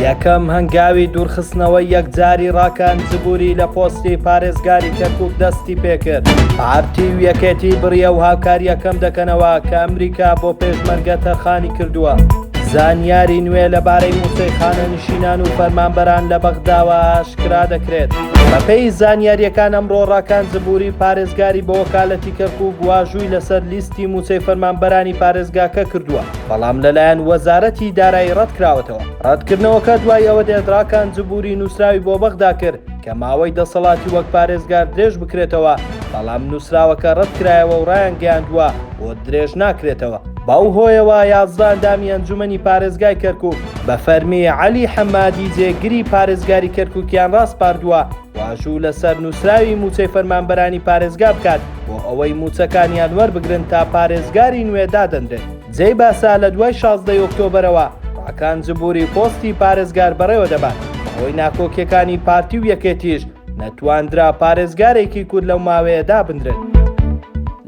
یەکەم هەنگاوی دوورخستنەوەی یەکجاری ڕاکان جبووری لە پۆستی پارێزگاری کەرکک دەستی پێکرد پارتی و یەکێتی بڕیە و هاوکاریەکەم دەکەنەوە کە ئەمریکا بۆ پێشمەرگە تەرخانی کردووە زانیاری نوێ لەبارەی موسەیخانە نشینان و فەرمانبەران لە بەغداوە ئاشکرا دەکرێت بەپێی زانیاریەکان ئەمڕۆ ڕاکان جبووری پارێزگاری بۆ وەکالەتی کەرکک واژووی لەسەر لیستی موچەی فەرمانبەرانی پارێزگاکە کردووە. بەڵام لەلایەن وەزارەتی دارایی ڕەتکراوەتەوە. ڕەتکردنەوەکە دوای ئەوە دێت ڕاکان جبوری نووسراوی بۆ بەغدا کرد کە ماوەی دەسەڵاتی وەک پارێزگار درێژ بکرێتەوە، بەڵام نووسراوەکە ڕەتکرایەوە و ڕایانگەیاندووە بۆ درێژ ناکرێتەوە. بەو هۆیەوە یازدە ئەندامی ئەنجومەنی پارێزگای کەرکوک بە فەرمی عەلی حەمادی جێگری پارێزگاری کەرکوکیان ڕاسپاردووە. واژوو لەسەر نووسراوی مووچەی فەرمانبەرانی پارێزگا بکات بۆ ئەوەی مووچەکانیان وەربگرن تا پارێزگاری نوێ دادەنرێت جێی باسە لە دوای شازدەی ئۆکتۆبەرەوە ئاکان جبوری پۆستی پارێزگار بەڕێوە دەبات بەهۆی ناکۆکیەکانی پارتی و یەکێتیش نەتواندرا پارێزگارێکی کورد لەو ماوەیە دابنرێت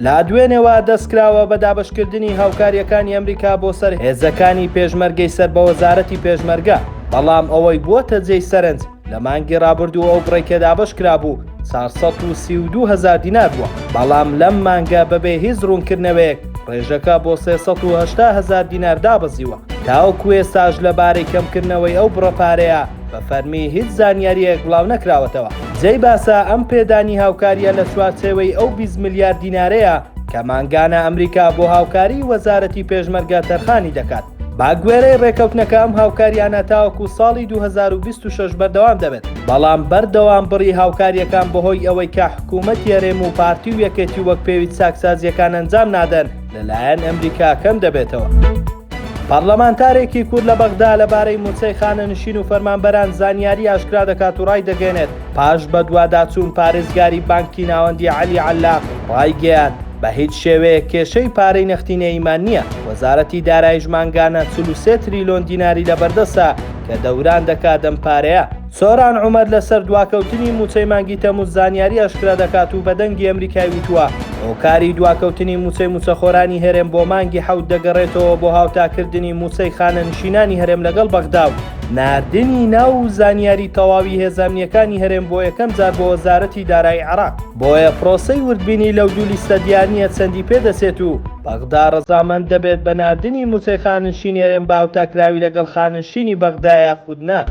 لە دوێنێوە دەستکراوە بە دابشکردنی هاوکاریەکانی ئەمریکا بۆ سەر هێزەکانی پێشمەرگەی سەر بە وەزارەتی پێشمەرگە بەڵام ئەوەی بووەتە جێی سەرنج لە مانگی ڕابردوو ئەو بڕەی کە دابەش کرابوو چار سەد و سی و دوو هەزار دینار بووە، بەڵام لەم مانگە بەبێ هیچ ڕوونکردنەوەیەک ڕێژەکە بۆ سێ سەد و هەشتا هەزار دینار دابەزیوە، تاوەکو ئێستاش لەبارەی کەمکردنەوەی ئەو بڕە پارەیە بە فەرمی هیچ زانیارییەک بڵاونەکراوەتەوە. جێی باسە ئەم پێدانی هاوکارییە لە چوارچێوەی ئەو بیست ملیار دینارەیە کە مانگانە ئەمریکا بۆ هاوکاریی وەزارەتی پێشمەرگە تەرخانی دەکات. بە گوێرەی ڕێکەوتنەکە ئەم هاوکارییانە تاوەکو ساڵی دوو هەزار و بیست و شەش بەردەوام دەبێت، بەڵام بەردەوام بڕی هاوکارییەکان بەهۆی ئەوەی کە حکوومەتی هەرێم و پارتی و یەکێتی وەک پێویست چاکسازییەکان ئەنجام نادەن، لەلایەن ئەمریکا کەم دەبێتەوە. پەڕلەمانتارێکی کورد لە بەغدا لەبارەی مووچەی خانەنشین و فەرمانبەران زانیاری ئاشکرا دەکات و ڕایدەگەیەنێت، پاش بەدواداچوون پارێزگاری بانکی ناوەندی عەلی عەللاق ڕایگەیاند، بە هیچ شێوەیەک کێشەی پارەی نەختینەییمان نییە، وەزارەتی داراییش مانگانە چل و سێ تریلۆن دیناری لەبەردەستە کە دەوران دەکات ئەم پارەیە. سۆران عومەر لەسەر دواکەوتنی مووچەی مانگی تەمووز زانیاری ئاشکرا دەکات و بە دەنگی ئەمریکای وتووە، هۆکاری دواکەوتنی مووچەی مووچەخۆرانی هەرێم بۆ مانگی حەوت دەگەڕێتەوە بۆ هاوتاکردنی مووچەی خانەنشینانی هەرێم لەگەڵ بەغدا و ناردنی ناو و زانیاری تەواوی هێزە ئەمنییەکانی هەرێم بۆ یەکەم جار بۆ وەزارەتی دارایی عێراق. بۆیە پرۆسەی وردبینی لەو دوو لیستە دیار نییە چەندی پێ دەچێت و بەغدا ڕەزامەند دەبێت بە ناردنی مووچەی خاننشینی هەرێم بە هاوتاکراوی لەگەڵ خاننشینی بەغدا یاخود نا.